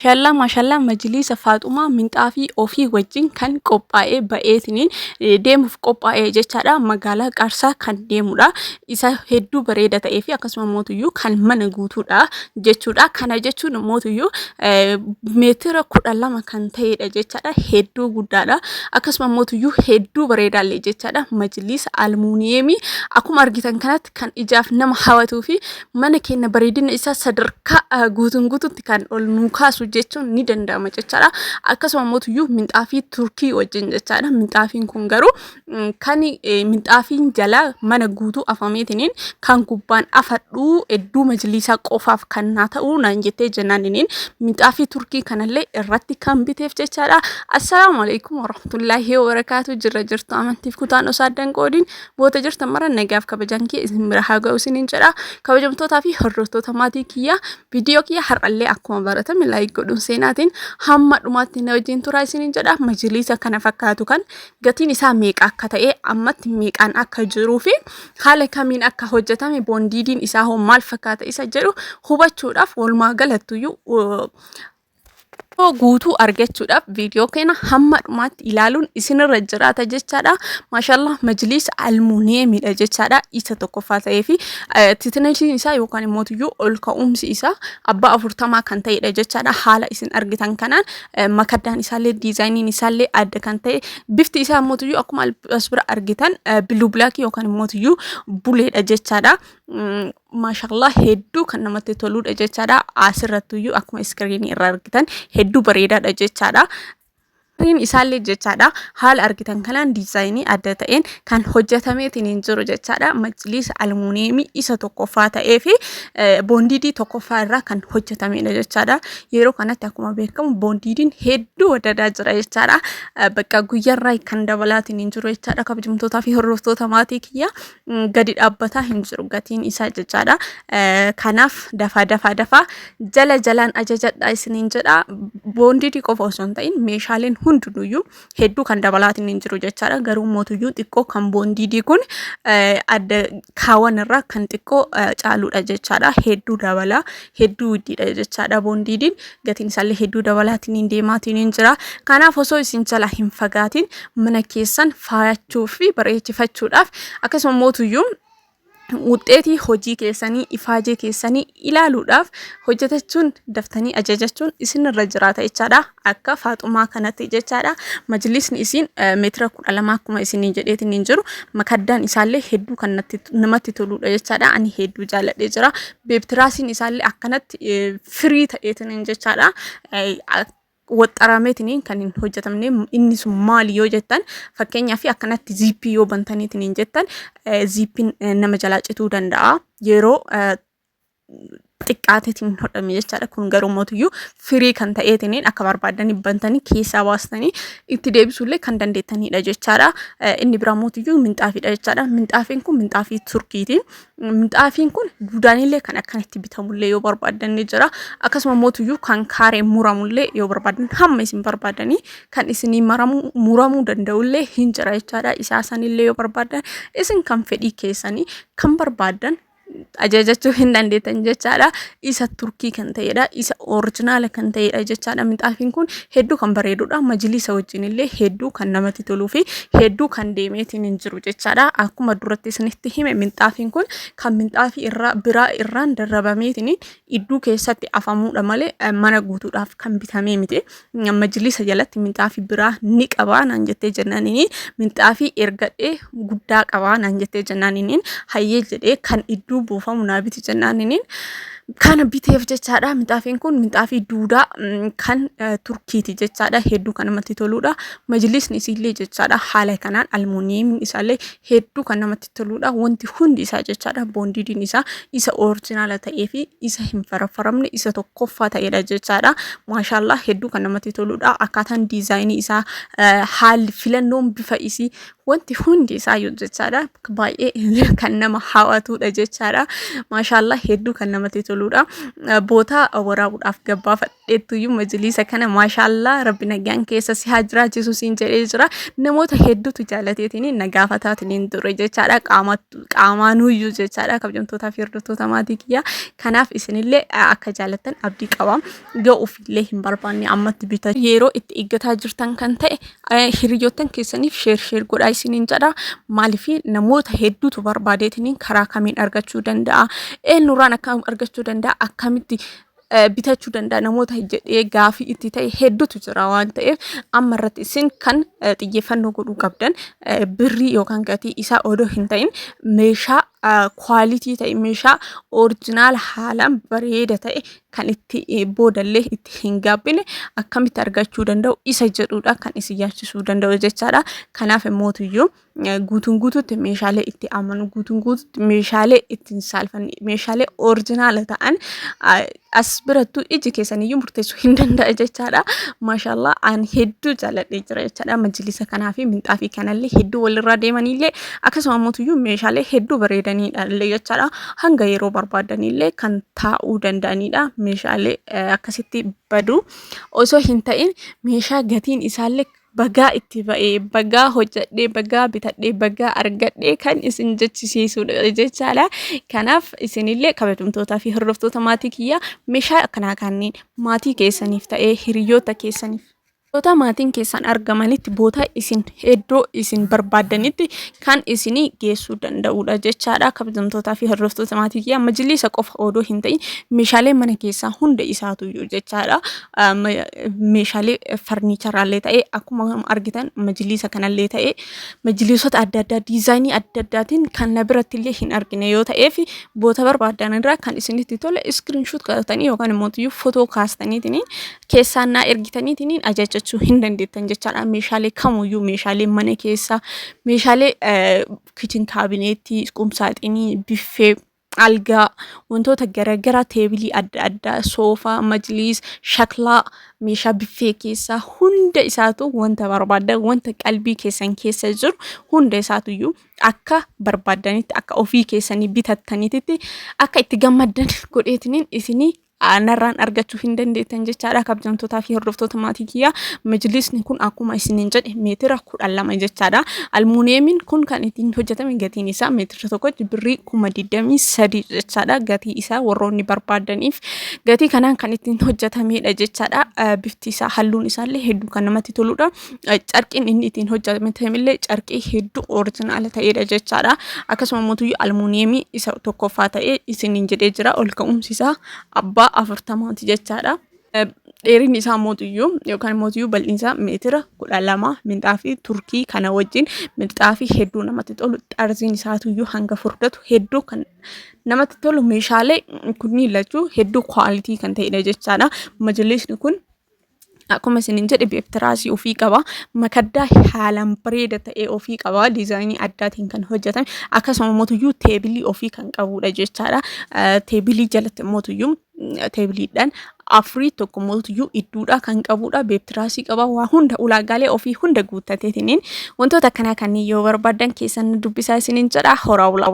Mashallah mashallah majiliisa faaxumaa minxaafii ofii wajjin kan qophaa'ee ba'eetiniin deemuuf qophaa'ee jechaadha magaalaa qaarsaa kan deemudha isa hedduu bareeda ta'ee fi akkasuma mootuyyuu kan mana guutuudha jechuudha kana jechuun mootuyyuu meetira kudha lama kan ta'edha jechaadha hedduu guddaadha akkasuma mootuyyuu hedduu bareedaallee jechaadha majiliisa almuuniyeemii akkuma argitan kanatti kan ijaaf nama hawatuu fi mana keenya bareedina isaa sadarkaa ah, guutuun guututti kan ol nuu kaasu jechuun ni danda'ama jechaadha. Akkasuma mootuyyuu minxaafii turkii wajjin jechaadha. Minxaafiin kun garuu mm, kan eh, minxaafiin jalaa mana guutuu afameetiniin kan gubbaan afadhuu hedduu majliisaa qofaaf kan naa ta'u naan jettee jennaaniniin minxaafii turkii kanallee irratti kan biteef jechaadha. Assalaamu alaikum warahmatullaahi wabarakaatu jirra jirtu amantiif kutaan osoo addan qoodiin Goota jirtan mara nagaaf kabajaan kee isin bira haa ga'u isiniin jedha. Kabajamtootaa fi hordoftoota maatii kiyya viidiyoo kiyya har'allee akkuma baratame laayik godhuun seenaatiin hamma dhumaatti na wajjin turaa isiniin jedha. Majiliisa kana fakkaatu kan gatiin isaa meeqa akka ta'e ammatti meeqaan akka jiruu fi haala kamiin akka hojjetame boondiidiin isaa hoo maal fakkaata isa jedhu hubachuudhaaf walumaa galattuyyuu guutuu argachuudhaaf viidiyoo keenya hamma dhumaatti ilaaluun isinirra jiraata jechaadha. Maashaallah majliisa almuuniyeemidha jechaadha. Isa tokkoffaa ta'ee fi titinasiin isaa yookaan immoo iyyuu ol ka'umsi isaa abbaa afurtamaa kan ta'edha jechaadha. Haala isin argitan kanaan eh, makaddaan isaallee diizaayiniin isaallee adda kan ta'e bifti isaa immoo iyyuu akkuma as bira argitan eh, biluu bilaakii yookaan immoo iyyuu buleedha jechaadha. Mm, Maashaallah hedduu kan namatti toluudha jechaadha. Asirrattuyyuu akkuma iskiriinii irra argitan hedduu bareedaadha jechaadha. Gariin isaallee jechaadha haala argitan kanaan diizaayinii adda ta'een kan hojjetameetiin hin jiru jechaadha. Majliisa almuuniyeemii isa tokkoffaa ta'ee fi boondiidii tokkoffaa irraa kan hojjetamedha jechaadha. Yeroo kanatti akkuma beekamu boondiidiin hedduu wadadaa jira jechaadha. Bakka guyyaarraa kan dabalaatiin hin jiru jechaadha. Kabajamtootaa fi hordoftoota maatii kiyya. gadi dhaabbataa hin jiru gatiin isaa jechaadha. Kanaaf dafaa dafaa dafaa jala jalaan ajajadha isiniin jedha. Boondidii qofa osoo hin ta'in meeshaaleen hundinuyyuu hedduu kan dabalaatiin hin jiru jechaadha. Garuu mootuyyuu xiqqoo kan boondidii kun adda kaawan irraa kan xiqqoo caaludha jechaadha. Hedduu dabala hedduu iddiidha jechaadha boondiidiin gatiin isaallee hedduu dabalaatiin hin deemaatiin hin jira kanaaf osoo isin jala hin fagaatiin mana keessan faayachuu fi bareechifachuudhaaf akkasuma mootuyyuu wuxxeetii hojii keessanii ifaajee keessanii ilaaluudhaaf hojjetachuun daftanii ajajachuun isinirra jiraata jechaadha akka faaxumaa kanatti jechaadha majlisni isiin meetira kudha lama akkuma isinii jedheetiin hin jiru makaddaan isaallee hedduu kan namatti toluudha jechaadha ani hedduu jaaladhee jira beebtiraasiin isaallee akkanatti firii ta'eetiin hin jechaadha waxxarameetiin kan hin hojjetamne inni sun maali yoo jettan fakkeenyaa fi akkanatti ziippii yoo bantaniitiin hin jettan ziippiin nama jalaa cituu danda'a yeroo xiqqaateetiin hin hodhamne jechaadha. Kun garuu mootiyyuu firii kan ta'eetiniin akka barbaadanii bantanii keessaa baastanii itti deebisuullee kan dandeettanidha jechaadha. Inni biraa mootiyyuu minxaafiidha jechaadha. Minxaafiin kun minxaafii turkiiti. Minxaafiin kun gudaanillee kan akkanatti bitamullee yoo barbaadan ni jira. Akkasuma mootiyyuu kan kaaree muramullee yoo barbaadan hamma isin barbaadanii kan isinii maramuu muramuu danda'ullee hin jira jechaadha. Isaa sanillee yoo barbaadan isin kan fedhii keessanii kan barbaadan ajajachuu hin dandeettan jechaadha. Isa turkii kan ta'edha. Isa orijinaala kan ta'edha jechaadha. Minxaafiin kun hedduu kan bareedudha. Majiliisa wajjin illee hedduu kan namatti toluu fi hedduu kan deemeetiin hin jiru jechaadha. Akkuma duratti isinitti hime minxaafiin kun kan minxaafii irraa biraa irraan darrabameetiin idduu keessatti afamuudha malee eh, mana guutuudhaaf kan bitamee miti. Majlisa jalatti minxaafii biraa ni qabaa naan jettee jennaaniin minxaafii ergadhee guddaa qabaa naan jettee jennaaniin hayyee jedhee kan idduu buufamu naa biti jennaaniin kana biteef jechaadha. Minxaafiin kun minxaafii duudaa mm, kan eh, turkiiti jechaadha. Hedduu kan namatti toluudha. Majlisni isiillee jechaadha haala kanaan almuuniyeemiin isaallee hedduu kan namatti toluudha wanti hundi isaa jechaadha boondiidiin isaa isa orijinaala ta'ee fi isa hin faraffaramne isa tokkoffaa ta'eedha jechaadha maashaallaa hedduu kan namatti toluudha akkaataan diizaayinii isaa haalli filannoon bifa isii wanti hundi isaa yoo jechaadha baay'ee kan nama hawatuudha jechaadha maashaallaa hedduu kan namatti toluudha bootaa waraabuudhaaf gabbaafadha. hedduuyyuu majliisa kana maashaallaa rabbi nagaan keessa si haa jiraachisu siin jedhee jira namoota hedduutu jaalateetiin na gaafataatiin ture jechaadha qaamaanuyyuu jechaadha kabjamtootaa fi hordoftoota maatii kiyyaa kanaaf isinillee akka jaalattan abdii qaba yoo ofiillee hin barbaanne ammatti bita yeroo itti eeggataa jirtan kan ta'e hiriyoottan keessaniif sheer sheer godhaa isiniin jedha maaliif namoota hedduutu barbaadeetiin karaa kamiin argachuu danda'a eenyurraan akka argachuu danda'a akkamitti bitachuu danda'a namoota jedhee gaafii itti ta'e hedduutu jira waan ta'eef amma irratti isin kan xiyyeeffannoo godhuu qabdan birrii yookaan gatii isaa odoo hin ta'in meeshaa kwaalitii ta'e meeshaa orijinaal haalaan bareeda ta'e kan itti boodallee itti hin gaabbine akkamitti argachuu danda'u isa jedhuudha kan isin yaachisuu danda'u jechaadha kanaaf mootuyyuu guutuun guutuutti meeshaalee itti amanu guutuun guutuutti meeshaalee ittiin saalfanne meeshaalee orijinaala ta'an as birattu iji keessaniyyuu murteessuu hin danda'a jechaadha. Maashaallah aan hedduu jaalladhee jira jechaadha. Majlisa kanaa fi minxaafii kanallee hedduu walirraa deemanillee akkasuma mootuyyuu meeshaalee hedduu bareedaniidha illee jechaadha. Hanga yeroo barbaadanillee kan taa'uu danda'anidha. Meeshaalee akkasitti badu osoo hin ta'in meeshaa gatiin isaallee bagaa itti ba'ee bagaa hojjadhee bagaa bitadhee bagaa argadhee kan isin jechisiisuudha jechaadha. Kanaaf isinillee kabajamtootaa fi hordoftoota maatii kiyyaa meeshaa akkanaa kanneen maatii keessaniif ta'ee hiriyoota keessaniif Boota maatiin keessan argamanitti boota isin iddoo isin barbaaddanitti kan isinii geessuu danda'uudha jechaadha. Kabajamtootaa fi hordoftoota maatii kiyyaa majilisa qofa odoo hin ta'in meeshaalee mana keessaa hunda isaatu jechaadha. meeshaalee farniicharaallee ta'ee akkuma argitan majliisa kanallee ta'ee majliisota adda addaa diizaayinii adda addaatiin kan na birattillee hin argine yoo ta'ee fi boota barbaadan irraa kan isinitti tole iskiriinshuut qabatanii yookaan immoo iyyuu footoo kaastaniitiin keessaan naa ergitaniitiin ajajachuu hin dandeettan jechaadha meeshaalee kamuyyuu meeshaalee mana keessaa meeshaalee kichin kaabineetii qumsaaxinii biffee algaa wantoota garagaraa teebilii adda addaa soofaa majliis shaklaa meeshaa biffee keessaa hunda isaatu wanta barbaaddan wanta qalbii keessan keessa jiru hunda isaatuyyuu akka barbaaddanitti akka ofii keessanii bitattanitti akka itti gammaddan godheetiniin isinii narraan argachuu hin dandeettan jechaadha kabjamtootaa fi hordoftoota maatii kiyyaa majlisni kun akkuma isiniin jedhe meetira kudha lama jechaadha almuuniyeemiin kun kan ittiin hojjetame gatiin isaa meetira tokkotti birrii kuma digdamii sadii jechaadha gatii isaa warroonni barbaadaniif gatii kanaan kan ittiin hojjetamedha jechaadha bifti isaa halluun isaallee hedduu kan namatti toludha carqiin inni ittiin hojjetamillee carqii hedduu orijinaala ta'edha jechaadha. Akkasuma mootuyyuu almuuniyeemii isa tokkoffaa ta'ee isiniin jedhee jira ol ka'umsi isaa abbaa afurtamaati jechaadha. Dheerinni isaa mootuyyuu yookaan mootuyyuu bal'inni isaa meetira kudha lama minxaafii turkii kana wajjin minxaafii hedduu namatti tolu xarziin isaatuyyuu hanga furdatu hedduu kan namatti tolu meeshaalee kunniin lachuu hedduu kwaalitii kan ta'edha jechaadha. Majlisni kun Akkuma isinin jedhe beektiraasii ofii qaba. Makaddaa haalaan bareeda ta'e ofii qaba. Diizaayinii addaatiin kan hojjetame. Akkasuma mootuyyuu teebilii ofii kan qabudha jechaadha. Teebilii jalatti mootuyyuu teebiliidhaan afurii tokko mootuyyuu idduudhaa kan qabudha. Beektiraasii qaba. Waa hunda ulaagaalee ofii hunda guuttateetiniin wantoota akkanaa kanneen yoo barbaadan keessan dubbisaa isinin jedha. Horaa bulaa.